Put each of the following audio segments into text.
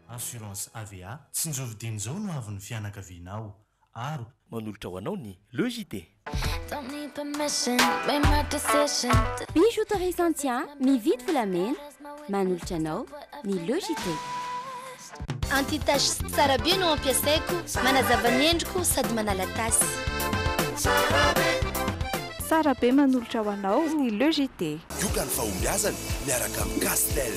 Assurance AVA, tsinjovy dinin'izao no avon'ny fianakavianao. Aro. Manolotra ho anao ny Le JT. Bijouterie Santhia mividy volamena manolotra anao ny Le JT. Anti tache tsara be no ampiasaiko, manazava ny endriko sady manala tasy. Tsara be manolotra ho anao ny Le JT. Yoga ny fahombiazana miaraka amin'i Castel.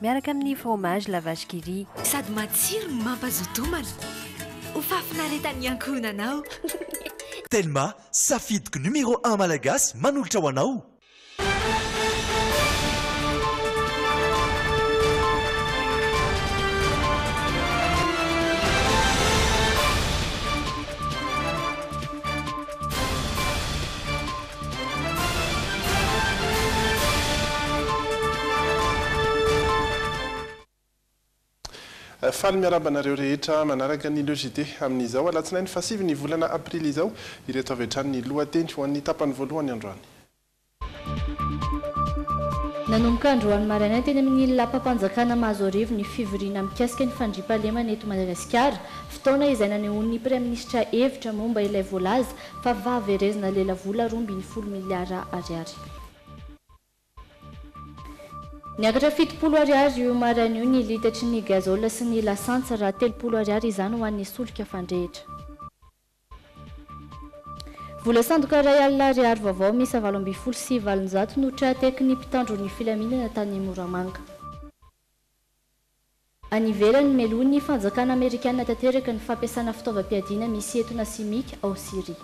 Miaraka amin'ny fromage la vache qui rit. Sady matsiro no mampazoto homana. Ho fahafinaretan'ny ankohonana ao. Telma, safidiko numéro un malagasy manolotra ho anao! Faly miarahaba anareo rehetra manaraka ny Le JT amin'izao alatsinainy fahasivy ny volana aprily izao. Ireto avy hatrany ny lohateny ho an'ny tapany voalohany androany. Nanomboka androany maraina teny amin'ny lapam-panjakana Mahazoarivo ny fivoriana mikasika ny fandriampahalemana eto Madagasikara, fotoana izay nanehoan'ny Praiminisitra hevitra momba ilay voalaza Fa va verezina lela vola roa ambin'ny folo miliara ariary. Niakatra fitopolo ariary io maraina io ny litatry ny gazole sy ny lasantsy raha telopolo ariary izany ho an'ny solika fandrehitra. Vola sandoka iray alina ariary vaovao miisa valo ambin'ny folo sy valonjato no tra-tekin'ny mpitandro ny filaminana tany Moramanga. Any ivelany, melohin'ny fanjakana amerikana tanteraka ny fampiasana fitaovam-piadiana misy etona simika ao Syria.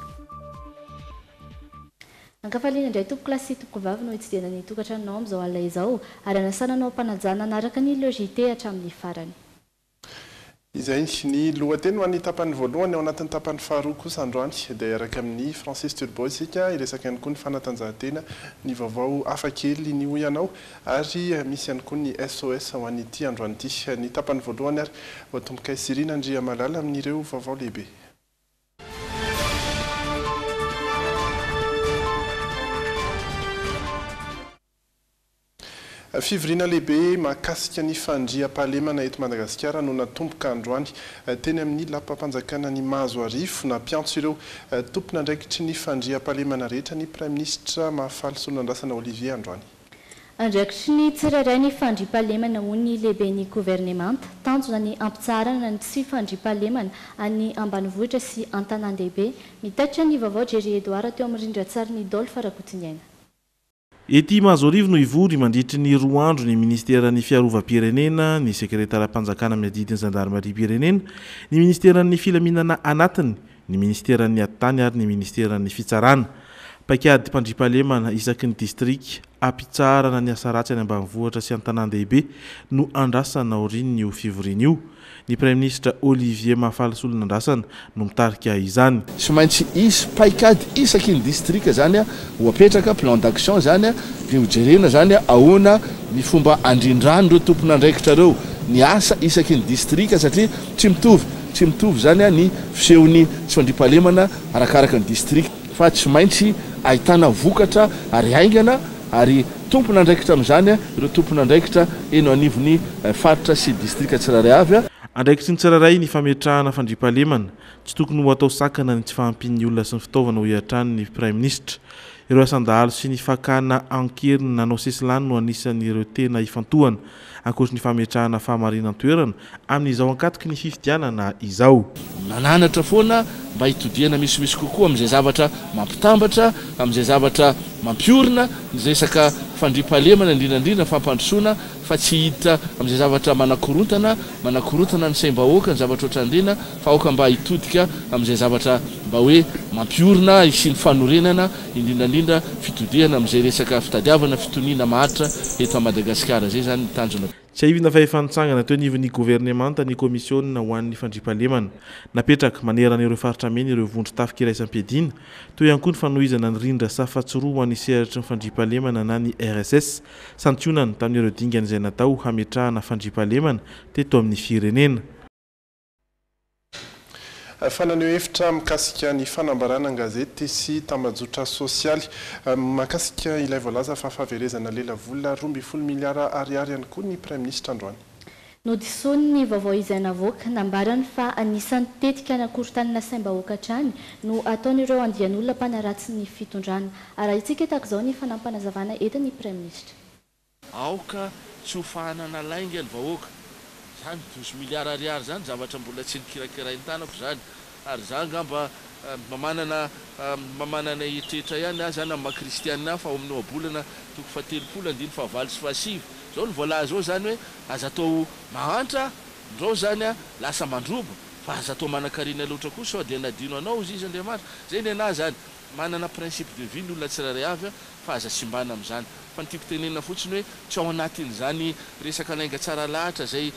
Ankafaliana indray tompoko lahy sy tompoko vavy no hitsidihana ny tokantranonao amin'izao alina izao, ary hanasana anao am-panajana hanaraka ny Le JT hatramin'ny farany. Izay ny lohateny ho an'ny tapany voalohany, ao anatin'ny tapany faharoa kosa androany dia hiaraka amin'i Francis Turbo isika hiresaka ihany koa ny fanatanjahantena, ny vaovao hafakely, ny hoy ianao. Ary misy ihany koa ny SOS ho an'ity androany ity. Ny tapany voalohany ary ho tompokay Cyrine Andriamalala amin'ireo vaovao lehibe. Fivoriana lehibe mahakasika ny fandriampahalemana eto Madagasikara no natomboka androany teny amin'ny lapam-panjakana ny Mahazoarivo. Nampiantso ireo tompon'andraikitry ny fandriampahalemana rehetra ny Praiminisitra Mahafaly Solonandrasana Olivier androany. Andraikitry ny tsirairay ny fandriampahalemana hoy ny lehiben'ny governemanta. Tanjona ny hampitsaharana ny tsy fandriampahalemana any ambanivohitra sy an-tanàn-dehibe. Mitaitra ny vaovao Jerry Edouard teo amin'ny rindran-tsarin'i Dolph Rakotoniaina. Ety Mahazoarivo no hivory mandritry ny roa andro ny minisiteran'ny Fiarovam-pirenena, ny sekreteram-panjakana miadidy ny zandarimariam-pirenena, ny minisiteran'ny Filaminana anatiny, ny Ministeran'ny Atitany ary ny Ministeran'ny Fitsarana. Paikady mpandriampahalemana isaky ny distrika hampitsaharana ny asa ratsy any ambanivohitra sy an-tanàn-dehibe no andrasana aorian'io fivoriana io. Ny Praiminisitra Olivier Mahafalisoa Linandrasana no mitarika izany. Tsy maintsy hisy paikady isaky ny distrika izany ho apetraka, plan d'action izany, dia ho jerena izany ahoana ny fomba handrindran'ireo tompon'andraikitra ireo ny asa isaky ny distrika satria tsy mitovy Tsy mitovy izany ny fisehon'ny tsy fandriampahalemana arakaraka ny distrika, fa tsy maintsy ahitana vokatra ary haingana ary tompon'andraikitra amin'izany ireo tompon'andraikitra eny anivon'ny faritra sy distrika tsirairay avy. Andraikitry ny tsirairay ny fametrahana fandriampahalemana. Tsy tokony ho atao sakana ny tsy fahampian'ny olona sy ny fitaovana, hoy hatrany ny Praiminisitra. Ireo asan-dahalo sy ny fakana an-keriny nanao sesilany no anisan'ireo tena ifantohana. ankoatry ny fametrahana fahamarinan-toerana amin'izao ankatoky ny fifidianana izao. Nananatra foana mba hitodihana misimisy kokoa amin'izay zavatra mampitambatra, amin'izay zavatra mampiorina ny resaka fandriampahalemana, indrindra indrindra ny fampandrosoana, fa tsy hiditra amin'izay zavatra manakorontana, manakorontana ny saim-bahoaka, ny zavatra ohatrandreny, fa aoka mba hitodika amin'izay zavatra mba hoe mampiorina, hisian'ny fanorenana indrindrandrindra fitodihana amin'izay resaka fitadiavana fitoniana maharitra eto Madagasikara izay izany ny tanjona. Tsiahivina fa efa nitsangana teo anivon'ny governemanta ny komisiona ho an'ny fandriampahalemana napetraka manerana ireo faritra mena ireo vondron-tafika iraisam-piadiana, teo ihany koa ny fanohizana ny rindra safa tsy roa ho an'ny sehatry ny fandriampahalemana na ny RSS, santionany tamin'ireo dingana izay natao hametrahana fandriampahalemana teto amin'ny firenena. Fa naneho hevitra mikasika ny fanambarana an-gazety sy tambajotra sosialy mahakasika ilay voalaza fa fahaverezana lelavola roa ambin'ny folo miliara ariary ihany koa ny Praiminisitra androany. Nodisoany ny vaovao izay navoaka. Nambarany fa anisan'ny tetika nakorontanina saim-bahoaka hatrany no ataon'ireo andian'olona mpanaratsy ny fitondrana. Arahintsika tahaka izao ny fanampim-panazavana entin'ny Praiminisitra. Aoka tsy ho fahanana lainga ny vahoaka. Zany douze milliards ariary zany zavatra mbola tsy nikirakirainy tanako zany. Ary za angamba mba manana mba manana eritreritra ihany aza na maha kristianina aho fa ao amin'ny ohabolana toko fahatelopolo andininy fahavalo sy fahasivy zao ny voalaza ao zany hoe aza atao mahantra ndrao zany lasa mandroba fa aza atao manankarena loatra koa sao dia nadino anao ozizy Andriamanitra. Zay ny anah zany. Manana principe de vie ny olona tsirairay avy an, fa aza simbana amin'izany. Fa ny tiako tenenina fotsiny hoe tsy ao anatin'izany resaka lainga tsara lahatra izay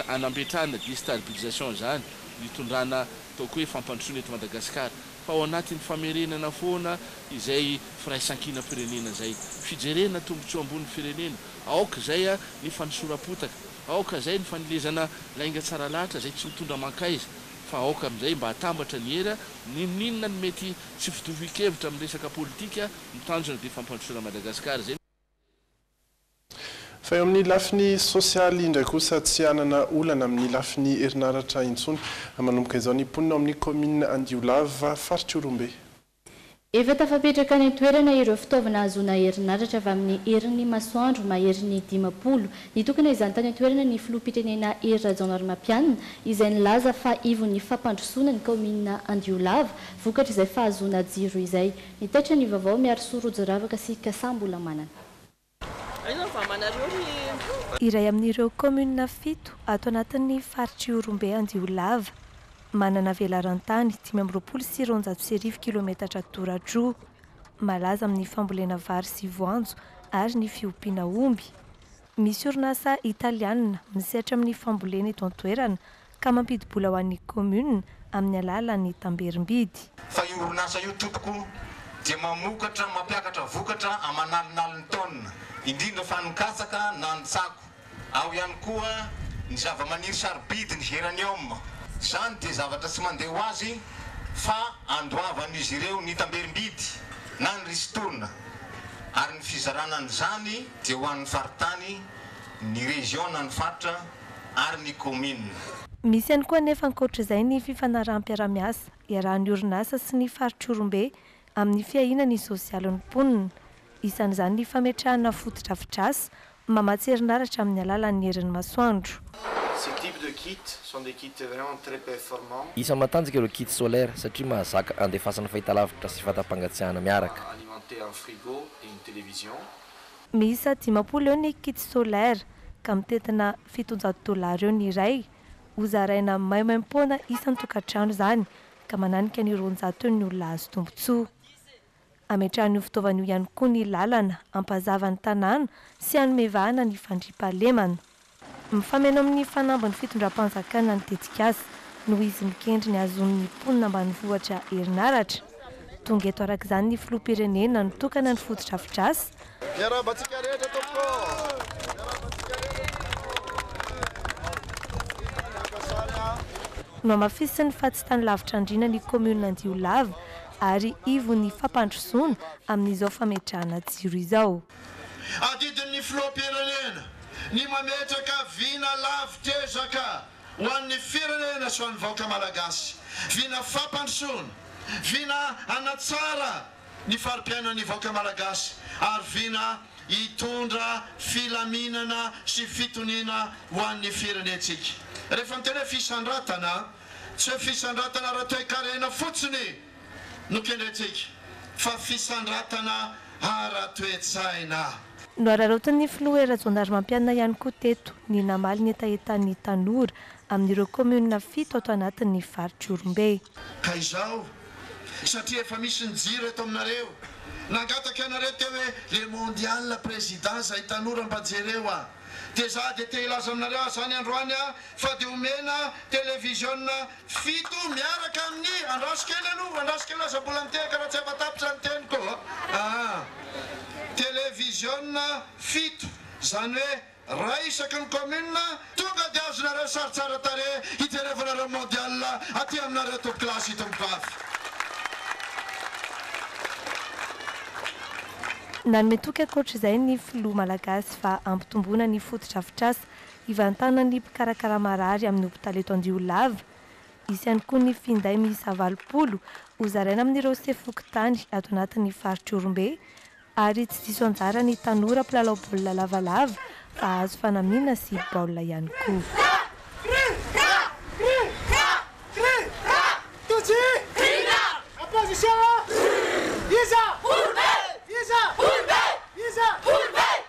anambetrahana destarblisation izany ny tondrana ataoko hoe fampandrosoana eto Madagasikara. Fa ao anatin'ny famerenana foana izay firaisankinam-pirenena izay. Fijerena tombotsoa ambony firenena. Aoka izay ny fanosoram-potaka. Aoka izay ny fanomezana lainga tsara lahatra izay tsy mitondra mankaiza. fa aoka amin'izay mba hatambatra ny hery a! N'inon'inona ny mety tsy fitovian-kevitra amin'ny resaka politika, ny tanjona dia fampandrosoana Madagasikara izay. Fa eo amin'ny lafiny sosialy indray kosa tsy hanana olana amin'ny lafiny herinaratra intsony manomboka izao ny mponina ao amin'ny kaominina Andiolava, faritr'Ihorombe. Efa tafapetraka any an-toerana ireo fitaovana ahazoana herinaratra avy amin'ny herin'ny masoandro maherin'ny dimampolo. Nitokana izany tany an-toerana ny filoham-pirenena Hery Rajaonarimampianina, izay nilaza fa ivon'ny fampandrosoana ny kaominina Andiolava, vokatry izay fahazoana jiro izay. Nitaitra ny vaovao Miarisoa Rojo Ravaka sy Kasambola Manana. Iray amin'ireo kaominina fito ato anatin'ny faritr'Ihorombe Andiolava. Manana velaran-tany dimy amby roapolo sy roanjato sy arivo kilometatra toratroa. Malaza amin'ny fambolena vary sy voanjo ary ny fiompiana omby. Misy orinasa italianina misehatra amin'ny fambolena eto an-toerana ka mampidi-bola ho an'ny commune amin'ny alalan'ny tamberim-bidy. Fa io orinasa io tompoko dia mamokatra, mampiakatra vokatra aman'alinaliny taona, indrindra fa ny katsaka na ny tsako, ao ihany koa ny zavamaniry sarobidy, ny geranium. Izany dia zavatra tsy mandeha ho azy fa andoavan'izy ireo ny tamberim-bidy na ny ristourne ary ny fizarana an'izany dia ho an'ny faritany, ny région na ny faritra. ary ny kaominina. Misy ihany koa anefa ankoatr'izay ny fifanaraham-piarahamiasa iarahan'ny orinasa sy ny faritr'Ihorombe amin'ny fiahiana ny sosialin'ny mponina. Isan'izany ny fametrahana fotodrafitrasa mamatsy herinaratra amin'ny alalan'ny herin'ny masoandro. Ces types de kits sont des kits vraiment très performants. Isan'ny matanjaka ireo kits solaires satria mahazaka andefasana fahitalavitra sy vata-pangatsiahana miaraka. Alimenter un frigo et une télévision Miisa dimampolo eo ny kits solaires ka mitentina fitonjato dollars eo ny iray. Ho zaraina maimaimpoana isan-tokantrano izany ka mananika ny roanjato eo ny olona hahazo tombontsoa. Hametrahana io fitaovana io ihany koa ny lalana hampazava ny tanàna sy hanome vahana ny fandriampahalemana. Mifameno amin'ny fanamby ny fitondram-panjakana ny tetikasa noho izy mikendry ny hahazoan'ny mponina ambanivohitra herinaratra. Tonga eto araka izany ny filoham-pirenena nitokana ny fotodrafitrasa. Miarahaba antsika rehetra tompoko ô! Miarahaba antsika rehetra! Nohamafisiny fa tsy tany lavitra andriana ny kaominina Andiolava ary ivon'ny fampandrosoana amin'izao fametrahana jiro izao. Adidin'ny filoham-pirenena ny mametraka vina lafo tezaka ho an'ny firenena sy ho an'ny vahoaka malagasy, vina fampandrosoana, vina hanatsara ny fari-piainan'ny vahoaka malagasy ary vina hitondra filaminana sy fitoniana ho an'ny firenentsika. Rehefa miteny hoe fisandratana, tsy hoe fisandratana ara-toekarena fotsiny. Nokendraintsika fa fisandratana ara-toetsaina. Nohararaotin'ny filoha Hery Rajaonarimampianina ihany koa teto ny namaly ny hetahetan'ny tanora amin'ireo kaominina fito ato anatin'ny faritr'Ihorombe. Ka izao, satria efa misy ny jiro eto aminareo, nangataka ianareo teo hoe le mondial prezida izay tanora mba jereo a! dia za dia te hilaza aminareo azany androany a! fa dia omena televiziona Fito miaraka amin'ny andraso kely aloha, andraso kely aza mbola mitehaka raha tsy hafatapitra ny teniko aa. Televiziona fito, izany hoe iray isaky ny commune, tonga dia azonareo sary tsara tarehy hijerevanareo mondial aty aminareo toby classe tompokafy. Nanome toky ankoatr'izay ny filoha malagasy fa hampitomboana ny fotodrafitrasa Ivantanan'ny mpikarakara marary amin'ny hopitaly eto Andiolava. Hisy ihany koa ny finday miisa valopolo hozaraina amin'ireo sefo fokontany ato anatin'ny faritr'i Ihorombe ary tsy diso anjara ny tanora mpilalao baolina lavalava fa hahazo fanamiana sy baolina ihany koa.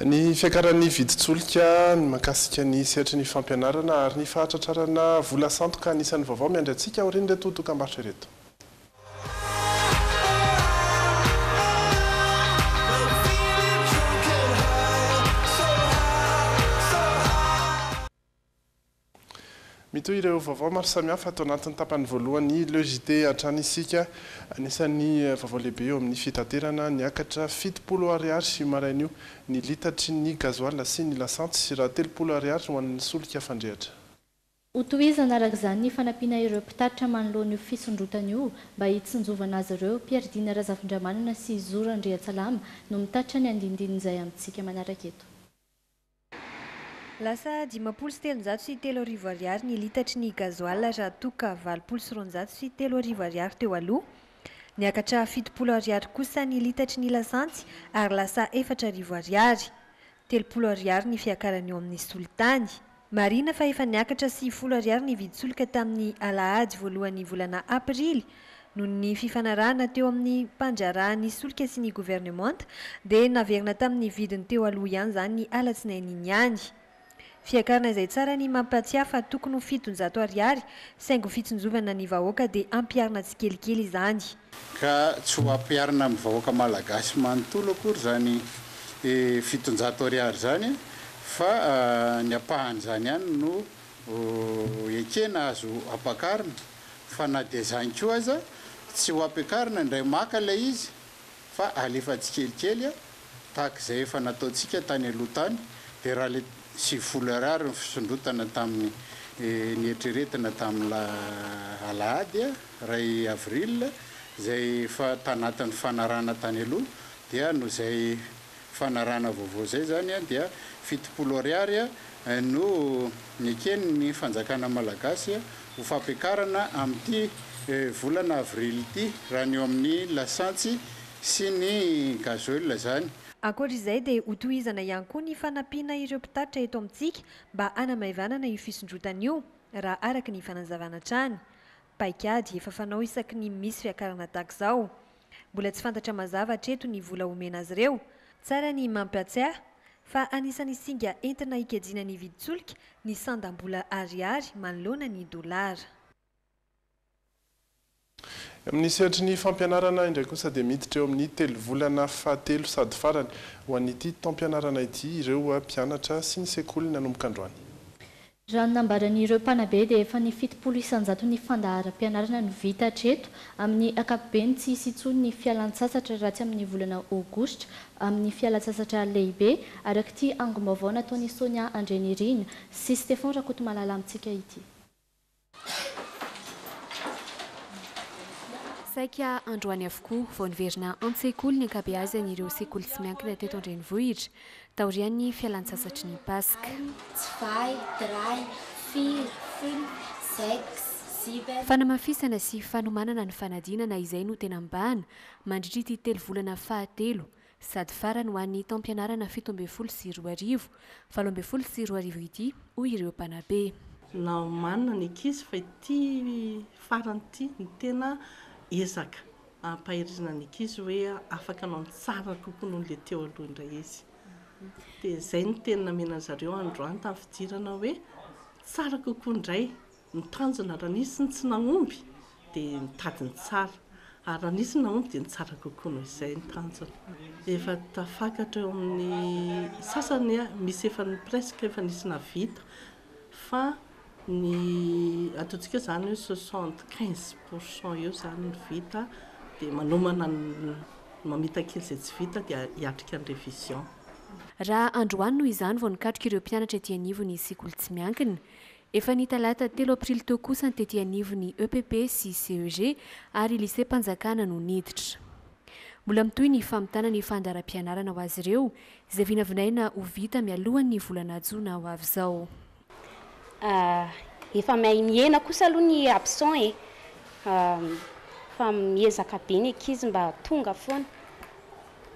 Ny fiakaran'ny vidin-tsolika, ny mahakasika ny sehatry ny fampianarana ary ny fahatratrarana vola sandoka anisan'ny vaovao miandry antsika aorian'ireto dokambarotra ireto. Mitohy ireo vaovao maro samihafa ato anatin'ny tapany voalohan'ny Le JT hatrany isika. Anisan'ny vaovao lehibe eo amin'ny fitaterana, niakatra fitopolo ariary io marain'io ny litatry ny gazoala sy ny lasantsy raha telopolo ariary ho an'ny solika fandrehatra. Hotohizana araka izany ny fanampiana ireo mpitatitra manoloana io fisondrotana io mba hitsinjovana azy ireo. Pierre Dina Razafindramanana sy Zo Randriantsalama no mitatitra ny andindinin'izay amintsika manaraka eto. Lasa dimampolo sy telonjato sy telo arivo ariary ny litatry ny gazoala raha toa ka valopolo sy roanjato sy telo arivo ariary teo aloha. Niakatra fitopolo ariary kosa ny litatry ny lasantsy ary lasa efatra arivo ariary. Telopolo ariary ny fiakarany eo amin'ny solitany. Marihina fa efa niakatra sivifolo ariary ny vidin-tsolika tamin'ny alahady voalohan'ny volana aprily Noho ny fifanarahana teo amin'ny mpandraharaha ny solika sy ny governemanta dia naverina tamin'ny vidiny teo aloha ihany izany ny alatsinainy iny ihany. Fiakarana izay tsara ny mampahatsiahy fa tokony ho fitonjato ariary saingy ho fitsinjovana ny vahoaka dia hampiharina tsikelikely izany. Ka tsy ho hampiharina amin'ny vahoaka malagasy manontolo akory izany fitonjato ariary izany fa ny ampahan'izany ihany no ekena azo ampakarina. fa na dia izany koa aza tsy ho ampiakarina indray maka ilay izy fa alefa tsikelikely tahaka izay efa nataontsika tany aloha tany dia raha ilay sivifolo Ar Ar ny fisondrotana tamin'ny nieritreretina tamin'ny alahady iray avril izay efa tanatin'ny fanarahana tany aloha dia noho izay fanarahana vaovao izay izany dia fitopolo ariary no nekeny ny fanjakana malagasy ho fampiakarana amin'ity volana avrily ity raha ny eo amin'ny lasantsy sy ny gazoil izany. Ankoatra izay dia ho tohizana ihany koa ny fanampiana ireo mpitatitra eto amintsika mba hanamaivanana io fisondrotana io raha araka ny fanazavana hatrany. Paikady efa fanao isaky ny misy fiakarana tahaka izao. Mbola tsy fantatra mazava hatreto ny vola homena azy ireo. Tsara ny mampiatsiahy fa anisan'ny singa entina hikajiana ny vidin-tsolika ny sandam-bola Ariary manoloana ny dolara. Amin'ny sehatry ny fampianarana indray kosa dia miditra eo amin'ny telovolana fahatelo sady farany ho an'ity taom-pianarana ity ireo mpianatra sy ny sekoly nanomboka androany. Raha ny nambaran'ireo mpanabe dia efa ny fitopolo isanjato ny fandaharam-pianarana no vita hatreto, amin'ny ankapobeny tsy hisy intsony ny fialan-tsasatra raha tsy amin'ny volana aogositra, amin'ny fialan-tsasatra lehibe, arak'ity angom-baovao nataon'i Sonia Andrianirina sy Stefan Rakotomalala amintsika ity. Saika androany avokoa vao niverina an-tsekoly ny ankabeazan'ireo sekoly tsy miankina teto an-drenivohitra, taorian'ny fialantsasatry ny Paska. Fanamafisana sy fanomanana ny fanadinana izay no tena mibahana mandritra ity telovolana fahatelo sady farany ho an'ny taom-pianarana fito ambin'ny folo sy roa arivo, valo ambin'ny folo sy roa arivo ity, hoy ireo mpanabe. Naomanina ny ankizy fa ity farany ity no tena ezaka. ampaherizina ny ankizy hoe afaka anao ny tsara kokoa noho ilay teo aloha indray izy. Dia izay ny teny namena an-dry zareo androany tamin'ny fidirana hoe tsara kokoa indray ny tanjona raha nisy ny tsy nahomby dia nitady ny tsara ary raha nisy ny nahomby dia ny tsara kokoa noho izay ny tanjona. Efa tafakatra eo amin'ny sasany misy efa presque efa nisy nahavita fa ny ataontsika izany hoe soixante quinze pour cent eo izany ny vita dia manomana ny mamita kely izay tsy vita dia hiatrika ny révision. Raha androany noho izany vao nikatroka ireo mpianatra ety anivon'ny sekoly tsy miankina. Efa ny talata telo aprily teo kosa ny tety anivon'ny EPP sy CEG ary lycée-mpanjakana no niditra. Mbola mitohy ny famitana ny fandaharam-pianarana ho azy ireo, izay vinavinaina ho vita mialohan'ny volana jona ho avy izao. Ah, efa miahy mihena kosa aloha ny absent e! ah, fa miezaka be ny ankizy mba tonga foana,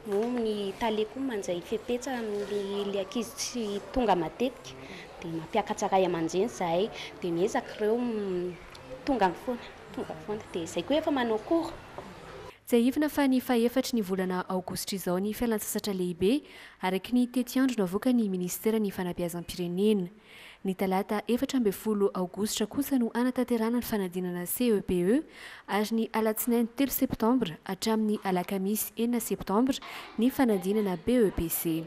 moa ny tale koa manjay fepetra amin'ilay ankizy tsy tonga matetika, dia mampiakatra ray aman-dreny izahay, dia miezaka ireo tonga foana. Tonga foana dia izay koa efa manao cours. Tsiahivina fa ny fahefatry ny volana aogositra izao ny fialantsasatra lehibe, araka ny tetiandro navoakan'ny minisiteran'ny Fanabeazam-pirenena. Ny talata efatra ambin'ny folo aogositra kosa no hanatanterahana ny fanadinana CEPE ary ny alatsinainy telo septambra hatramin'ny alakamisy enina septambra ny fanadinana BEPC.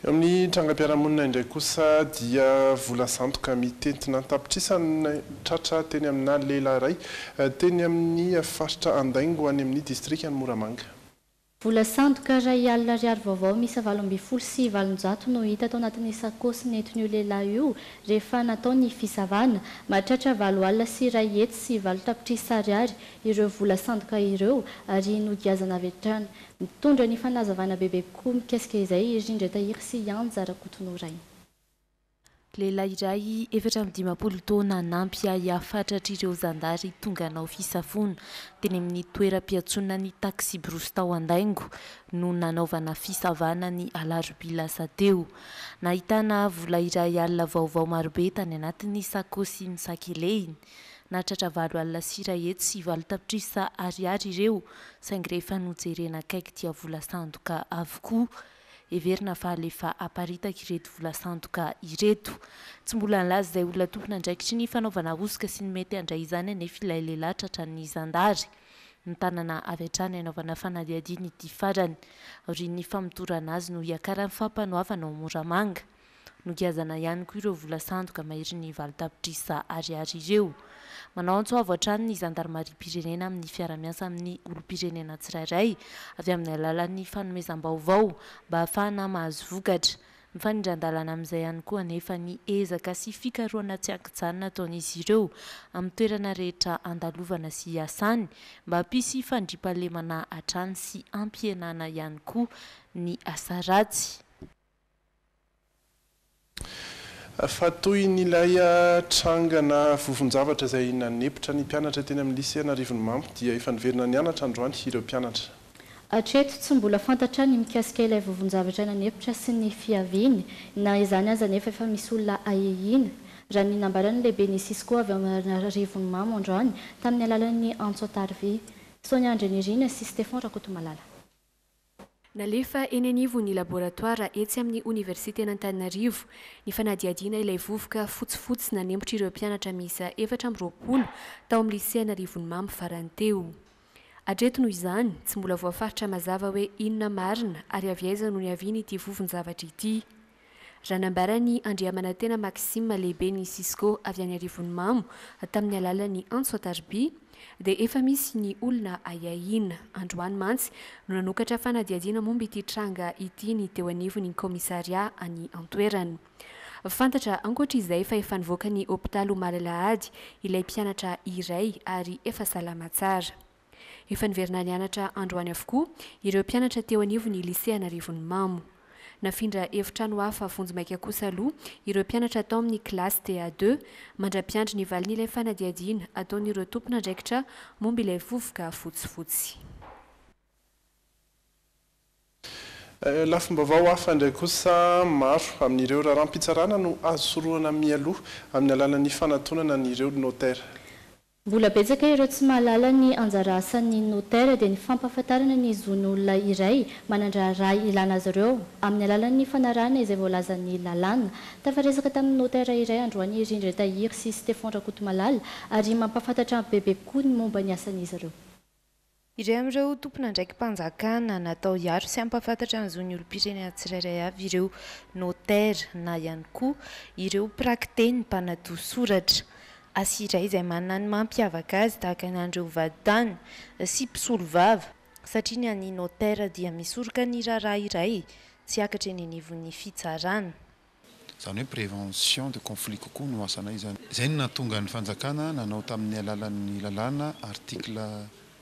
Eo amin'ny trangam-piarahamonina indray kosa dia vola sandoka mitentina an-tapitrisany no tratra teny aminà lehilahy iray, teny amin'ny faritra Andaingo any amin'ny distrikan'i Moramanga. Vola sandoka iray alina ariary vaovao miisa valo ambin'ny folo sy valonjato no hita tao anatin'ny sakaosy nentin'io lehilahy io rehefa natao ny fisavana. Mahatratra valo alina sy iray hetsy sy valo tapitrisa ariary ireo vola sandoka ireo ary nogiazana avy hatrany. Mitondra ny fanazavana bebe kokoa mikasika izay i Rindra Tahiry sy i Anja Rakotonoraina. Lehilahy iray efatra amby dimampolo taona nampy ahy hafatratr'ireo zandary tonga hanao fisafoana teny amin'ny toeram-piantsonan'ny taksibrosy tao Andaingo no nanaovana fisavana ny alarobia lasa teo. Nahitana vola iray alina vaovao marobe tany anatin'ny sakaosy nosakelehiny. Nahatratra valo alina sy iray hetsy sy valo tapitrisa ariary ireo, saingy rehefa nojerena akaiky dia vola sandoka avokoa. Heverina fa alefa aparitaka ireto vola sandoka ireto. Tsy mbola nilaza izay olona tompon'andraikitry ny fanaovana hosoka sy ny mety handray izany anefa ilay lehilahy tratran'ny zandary. Mitànana avy hatrany hanaovana fanadihadiana ity farany. Aorian'ny famotorana azy no hiakaran'ny fampanoavana ao Moramanga. Nogiazana ihany koa ireo vola sandoka maherin'ny valo tapitrisa ariary ireo. Manao antso avo hatrany ny zandarimariam-pirenena amin'ny fiarahamiasa amin'ny olom-pirenena tsirairay avy amin'ny alalan'ny fanomezam-baovao mba hahafahana mahazo vokatra. Mifanindran-dalana amin'izay ihany koa anefa ny ezaka sy fikarohana tsy an-kijanona ataon'izy ireo amin'ny toerana rehetra andalovana sy iasany mba hampisy fandriampahalemana hatrany sy hampihenana ihany koa ny asa ratsy. Fa toy ny ilay trangana vovon-javatra izay nanepotra ny mpianatra teny amin'ny Lisea Anarivonimamo dia efa niverina nianatra androany ireo mpianatra. Hatreto, tsy mbola fantatra ny mikasika ilay vovon-javatra nanepotra sy ny fiaviany. Na izany aza anefa efa misy olona ahiahiana, raha ny nambaran'ny lehiben'ny Cisco avy ao Anarivonimamo androany tamin'ny alalan'ny antso an-tarivia. Sonia Andrianirina sy Stefan Rakotomalala. Nalefa eny anivon'ny laboratoara etsy amin'ny Oniversiten'Antananarivo ny fanadihadiana ilay vovoka fotsifotsy nanempotr'ireo mpianatra miisa efatra amby roapolo tao amin'ny Lisea Anarivonimamo farany teo. Hatreto noho izany, tsy mbola voafaritra mazava hoe inona marina ary avy aiza no niavian'ity vovon-javatra ity. Raha nambaran'i Andriamanantena Maxime lehiben'ny Cisco avy any Arivonimamo tamin'ny alalan'ny antso an-tarobia dia efa misy ny olona ahiahiana. Androany mantsy no nanokatra fanadihadiana momba ity tranga ity ny teo anivon'ny kaomisarià any an-toerana. Fantatra ankoatra izay fa efa nivoaka ny hopitaly omaly alahady ilay mpianatra iray ary efa salama tsara. Efa niverina nianatra androany avokoa ireo mpianatra teo anivon'ny Lisea Anarivonimamo. Nafindra efitrano hafa vonjimaika kosa aloha ireo mpianatra tao amin'ny kilasy DA deux mandra-piandry ny valin'ilay fanadihadiana ataon'ireo tompon'andraikitra momba ilay vovoka fotsifotsy. Lafim-baovao hafa indray kosa, maro amin'ireo raharaham-pitsarana no azo sorohana mialoha amin'ny alalan'ny fanatonana an'ireo notera. Mbola betsaka ireo tsy mahalala ny anjara asan'ny notera dia ny fampahafantarana ny zon'olona iray manan-draharaha ilana azy ireo amin'ny alalan'ny fanarahana izay voalazan'ny lalàna. Tafaresaka tamin'ny notera iray androany i Rindra Tahiry sy Stefan Rakotomalala ary mampahafantatra bebe kokoa ny momba ny asan'izy ireo. Iray amin'ireo tompon'andraiki-panjakana natao hiaro sy hampahafantatra ny zon'ny olom-pirenena tsirairay avy ireo notera na ihany koa ireo mpiraki-teny mpanadio soratra. Asa iray izay manana ny mampiavaka azy tahaka ny an'ireo vadintany sy mpisolovava satria ny an'ny notera dia misoroka ny raharaha iray tsy hiakatra eny anivon'ny fitsarana. Izany hoe prévention de conflit kokoa no asanay izany. Izay no nahatonga ny fanjakana nanao tamin'ny alalan'ny lalàna article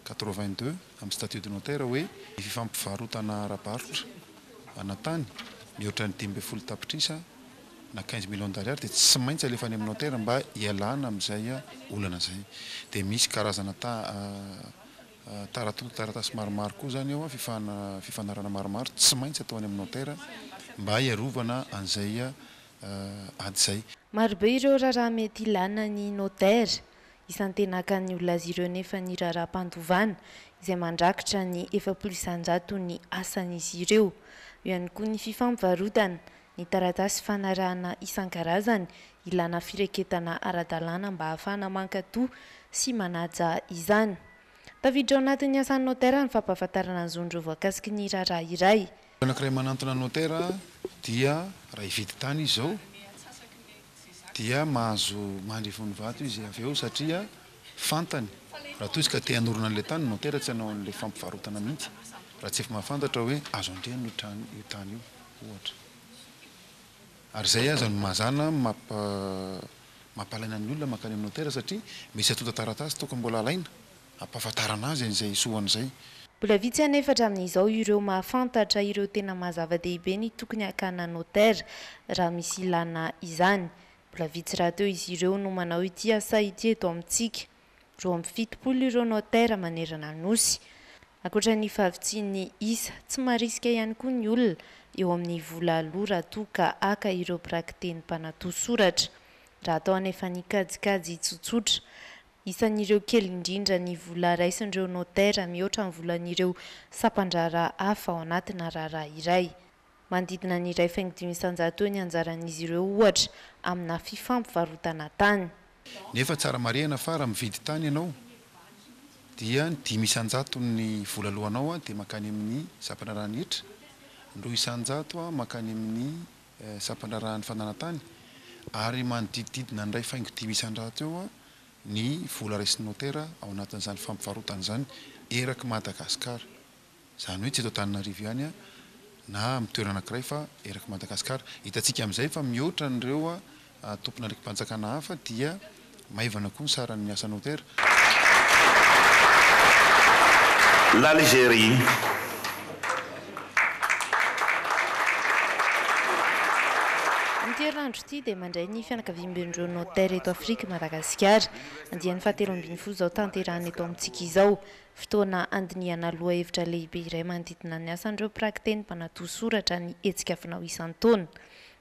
quatre-vingt-deux amin'ny statut de notaire hoe ny fifampivarotana ara-barotra ana tany mihoatra ny dimy ambin'ny folo tapitrisa na quinze millions d'ariary dia tsy maintsy alefa any amin'ny notaire mba hialana amin'izay olana izay. Dia misy karazana ta Tarato, taratasy maromaro koa izany eo, fifana, fifanarahana maromaro tsy maintsy atao any amin'ny notera mba hiarovana an'izay ady izay. Marobe ireo raharaha mety ilàna ny notera isan-tenakan'ny olona azy ireo nefa ny raharaham-pandovana izay mandrakitra ny efapolo isan-jato ny asan'izy ireo. Eo ihany koa ny fifampivarotana, ny taratasy fanarahana isan-karazany Ilana fireketana ara-dalàna mba ahafahana mankato sy manaja izany. Tafiditra ao anatin'ny asan'ny notera ny fampahafantarana ny zon'ireo voakasiky ny raharaha iray. Olona anankiray manantona ny notera dia raha hividy tany izy izao dia mahazo mandry vonvato izy avy eo satria fantany raha toa izy ka te hanorina an'ilay tany ny notera tsy hanao an'ilay fampivarotana mihitsy raha tsy efa mahafantatra hoe azo andriana io tany io ohatra. Ary izay aza no mazàna mampahalaina ny olona mankany amin'ny notera satria misy antontan-taratasy tokony mbola alaina hampahafantarana azy an'izay hisohany izay. Mbola vitsy anefa hatramin'izao ireo mahafantatra ireo tena maha zava-dehibe ny tokony hakana notera, raha misy ilàna izany. Mbola vitsy rahateo izy ireo no manao ity asa ity eto amintsika. Roa amby fitopolo ireo notaire manerana ny Nosy. Ankoatra ny fahavitsian'ny isa, tsy marisika ihany koa ny olona eo amin'ny vola aloa raha toa ka haka ireo mpiraki-teny mpanatò soratra. Raha atao anefa ny kajikajy tsotsotra, isan'ireo kely indrindra ny vola raisin'ireo notaire mihoatra ny volan'ireo sampan-draharaha hafa ao anatina raharaha iray. Manodidina ny iray faingo dimy isan-jato eo ny anjaran'izy ireo, ohatra, amina fifampivarotana tany. Nefa tsara marihana fa raha mividy tany ianao dia ny dimy isan-jaton'ny vola aloanao dia mankany amin'ny sampandraharahan'ny hetra, ny roa isan-jato mankany amin'ny sampandraharahan'ny fananan-tany ary manodidididina ny iray faingo dimy isan-jato eo ny vola raisin'ny notera ao anatin'izany fampivarotana izany erak'i Madagasikara. Izany hoe tsy eto Antananarivo ihany na amin'ny toerana anankiray fa eraky Madagasikara. Hitantsika amin'izay fa mihoatra an'ireo tompon'andraiki-panjakana hafa dia maivana koa ny saran'ny asa notera. L'Algérie, Amin'ity herinandro ity dia mandray ny fianakaviamben'ireo notera eto Afrika i Madagasikara. Andiany fahatelo ambin'ny folo izao tanterahina eto amintsika izao. Fotoana handinihana lohahevitra lehibe iray manodidina ny asan'ireo mpiraki-teny mpanadio soratra ny hetsika fanao isan-taona.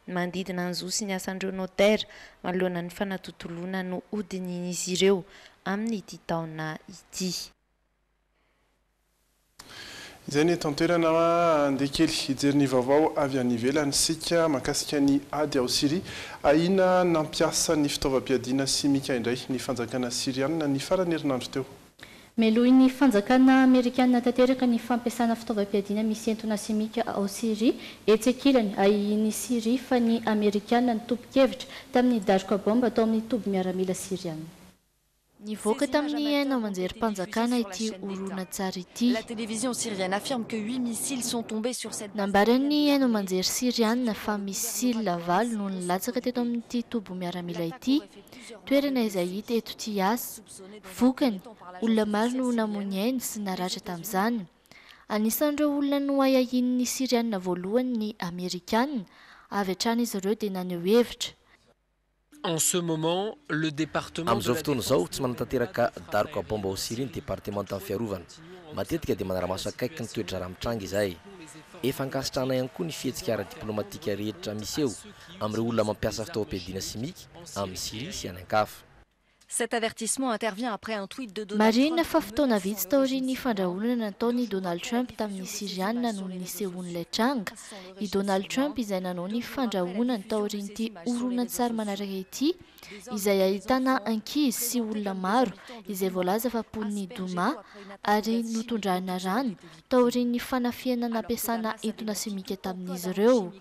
Ny manodidina ny zo sy ny asan'ireo notera manoloana ny fanatontoloana no hodinihin'izy ireo amin'ity taona ity. Izay ny eto an-toerana. Handeha kely hijery ny vaovao avy any ivelany isika mahakasika ny ady ao Syria. Ahiana ny nampiasa ny fitaovam-piadiana simika indray ny fanjakana Syriana ny faran'ny herinandro teo. Melohin'ny fanjakana Amerikana tanteraka ny fampiasana fitaovam-piadiana misy entona simika ao Syria. Etsy ankilany, ahihin'i Syria fa ny Amerikana nitompon-kevitra tamin'ny daroka baomba tao amin'ny toby miaramila Syriana. Nivoaka tamin'ny haino aman-jerim-panjakana ity horonantsary ity. Nambaran'ny haino aman-jery Syriana fa misila valo no nilatsaka teto amin'ity toby miaramila ity, toerana izay hita eto Tiyas. Vokany, olona maro no namoy ny ainy sy naratra tamin'izany. Anisan'ireo olona noahiahian'ny Syriana voalohany ny Amerikana, avy hatrany izy ireo dia naneho hevitra. Amin'izao fotoana izao, tsy manatanteraka daroka baomba ao Syria ny Departemantan'ny Fiarovana. Matetika dia manara-maso akaiky ny toe-draharaha mitranga izahay. Efa ankasitrahanay ihany koa ny fihetsika ara-diplaomatika rehetra miseho amin'ireo olona mampiasa fitaovam-piadiana simika amin'i Syria sy any an-kafa. Cet avertissement intervient après un tweet de Donald Trump Marihina fa fotoana vitsy taorian'ny fandrahonana nataon'i Donald Trump tamin'ny Syriana no nisehoan'ilay tranga. I Donald Trump izay nanao ny fandrahonany taorian'ity horonantsary manaraka ity, izay ahitana ankizy sy olona maro izay voalaza fa mponin'ny Douma ary notondrahana rano, taorian'ny fanafihana nampiasana entona simika tamin'izy ireo.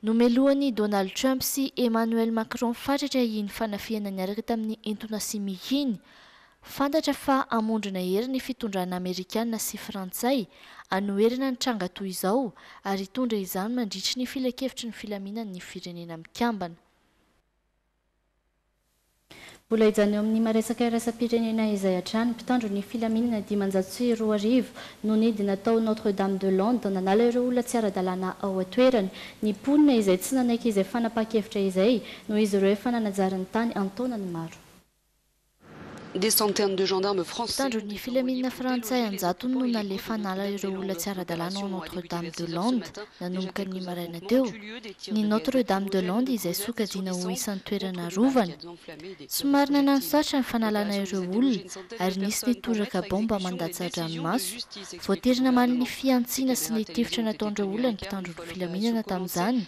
Nomelohan'i Donald Trump sy Emmanuel Macron fatratra iny fanafihana niaraka tamin'ny entona simika iny. Fantatra fa hamondrona hery ny fitondrana Amerikana sy Frantsay hanoherana ny tranga toy izao ary hitondra izany mandritry ny Filankevitry ny Filaminan'ny Firenena Mikambana. Mbola hijanona eo amin'ny maresaka iraisam-pirenena izay hatrany, mpitandro ny filaminana dimanjato sy roa arivo no nidina tao Notre Dame de Londres nanala ireo olona tsy ara-dalàna ao an-toerany. Ny mponina izay tsy nanaiky izay fanapahan-kevitra izay noho izy ireo efa nanajary ny tany an-taonany maro. Mpitandro ny filaminana frantsay an-jatony no nalefa hanala ireo olona tsy ara-dalàna ao Notre Dame de Lande, nanomboka ny maraina teo. Ny Notre Dame de Lande izay sokajiana ho isan'ny toerana arovana. Somary nanano sarotra ny fanalana ireo olona ary nisy ny toraka baomba mandatsa-dranomaso, Voatery namaly ny fihantsiana sy ny tifitra nataon'ireo olona ny mpitandro ny filaminana tamin'izany.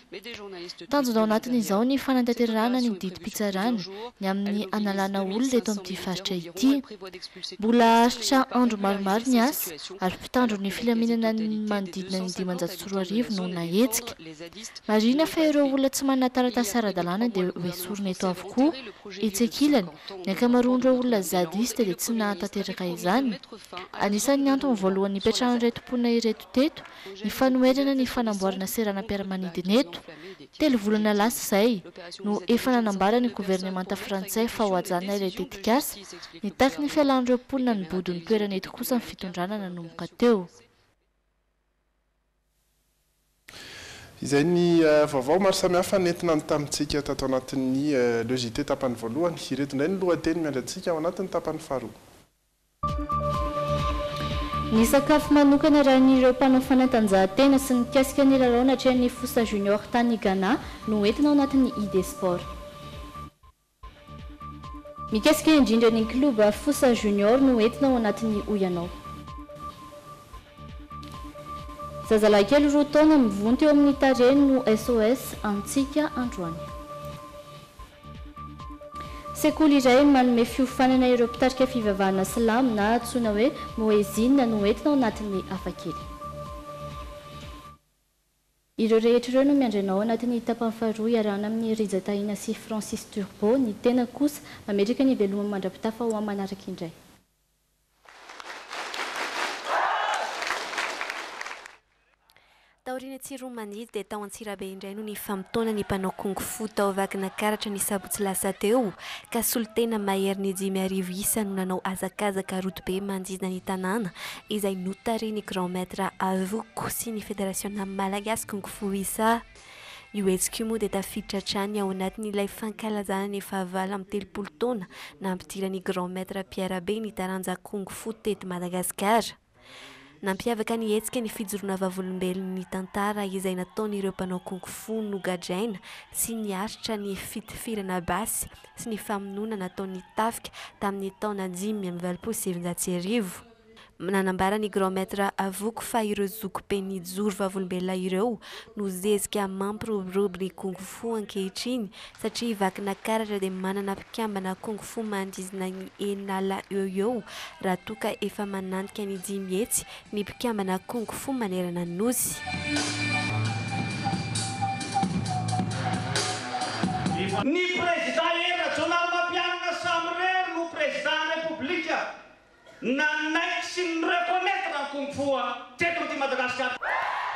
Tanjona ao anatin'izao ny fanantanterahana ny didim-pitsarana ny amin'ny hanalana olona eto amin'ity faritra ity. Mbola haharitra andro maromaro ny asa ary mpitandro ny filaminana ny manodidina ny dimanjato sy roa arivo no nahetsika. Marihina fa ireo olona tsy manana taratasy ara-dalàna dia ho esorina eto avokoa, etsy ankilany, Ny ankamaroan'ireo olona zadiste dia tsy nahatanteraka izany. Anisan'ny antony voalohany nipetrahan'ireto mponina ireto teto ny fanoherana ny fanamboarana seranam-piaramanidina eto. Telo volana lasa izay no efa nanambara ny governemanta frantsay fa hohajanina ilay tetikasa, nitaky ny fialan'ireo mponina nibodo ny toerana eto kosa ny fitondrana nanomboka teo. Izay ny vaovao maro samihafa nentinany tamintsika tato anatin'ny Le JT tapany voalohany. Ireto indray ny lohateny miandry antsika ao anatin'ny tapany faharoa. Ny sakafo manokana arahin'ireo mpanao fanatanjahantena sy mikasika ny lalao natrehan'ny Fosa Junior tany Ghana no entina ao anatin'ny ID Sport. Mikasika indrindra ny klioba Fosa Junior no entina ao anatin'ny hoy ianao. Zazalahy kely roa taona mivonto eo amin'ny tarehiny no SOS antsika androany. Sekoly iray manome fiofanana ireo mpitarika fivavahana silamo na antsoina hoe Moezin no entina ao anatin'ny hafakely. Ireo rehetra ireo no miandry anao ao anatin'ny tapany faharoa iarahana amin'i Rija Tahina sy Francis Turbo. Ny tenako kosa, mametraka ny veloma mandra-pitafa ho amin'ny manaraka indray. Taorian'ny Tsirony Manidy dia tao Antsirabe indray no nifamotoana ny mpanao Kung Fu tao Vakinankaratra ny sabotsy lasa teo ka solontena maherin'ny dimy arivo isa no nanao hazakazaka rodobe manodidina ny tanàna izay notarihin'ny Grand Maître Avoko sy ny Federasiona Malagasy Kung Fu Wisa. Io hetsika io moa dia tafiditra hatrany ao anatin'ilay fankalazana ny fahavalo amby telopolo taona nampidiran'ny Grand Maître Pierre Be ny taranja Kung Fu teto Madagasikara. Nampiavaka ny hetsika ny fijoroana vavolombelon'ny tantara izay nataon'ireo mpanao Kung Fu nogadraina sy niaritra ny fitifirana basy sy ny famonoana nataon'ny tafika tamin'ny taona dimy amby valopolo sy sivinjato sy arivo. Nanambara ny Grand Maître Avoko fa ireo zoky be mijoro vavolombelona ireo no zezika mampiroborobo ny Kung Fu ankehitriny satria vakina karatra dia manana mpikambana Kung Fu manodidina ny eninala eo ho eo raha toa ka efa manantika ny dimy hetsy ny mpikambana Kung Fu manerana ny Nosy. Ny Prezidà Hery Rajaonarimampianina samirery no Prezidàn'ny Repoblika nanaiky sy ni-reconnaitre ny Kung Fu teto amin'ity Madagasikara.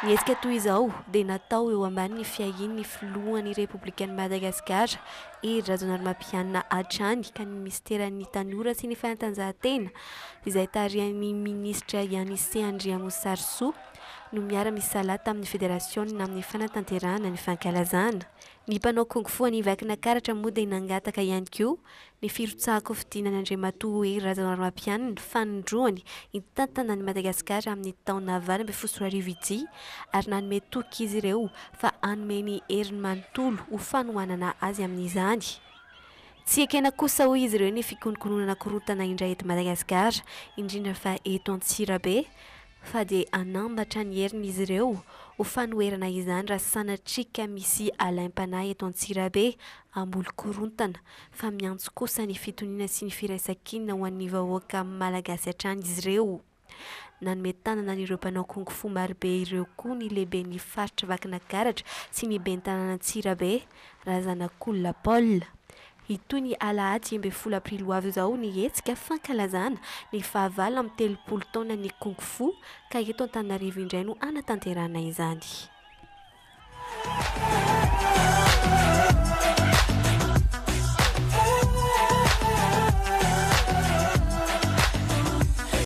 Ny hetsika toy izao dia natao eo ambanin'ny fiahian'ny Filohan'ny Repoblikan'i Madagasikara Hery Rajaonarimampianina hatrany ka ny Minisiteran'ny Tanora sy ny Fanatanjahantena izay tarihan'ny minisitra Yanissé Andriamosarisoa, no miara-misalahy tamin'ny federasiona amin'ny fanatanterahana ny fankalazana. Ny mpanao kung fu any Vakinakaratra moa dia nangataka ihany koa ny firotsahan-kofidina an'Andriamatoa Hery Rajaonarimampianina fanindroany hitantana an'i Madagasikara amin'ny taona valo ambin'ny folo sy roa arivo ity ary nanome toky izy ireo fa hanome ny heriny manontolo ho fanohanana azy amin'izany. Tsy ekena kosa hoy izy ireo ny fikonokononana korontana indray eto Madagasikara, indrindra fa eto Antsirabe, fa dia hanambatra ny heriny izy ireo ho fanoherana izany raha sanatria ka misy alaim-panahy eto Antsirabe hamboly korontana, fa miantso kosa ny fitoniana sy ny firaisan-kinina ho an'ny vahoaka Malagasy hatrany izy ireo. Nanome tanana an'ireo mpanao kung fu marobe ireo koa ny lehiben'ny faritr'i Vakinagaratra sy ny ben'ny tanàn'Antsirabe, Razanakolona Paul. Hitohy ny alahady enimby ambin'ny folo aprily ho avy izao ny hetsika fankalazana ny fahavalo amin'ny telopolo taonan'ny kung fu ka eto Antananarivo indray no hanatanterahana izany.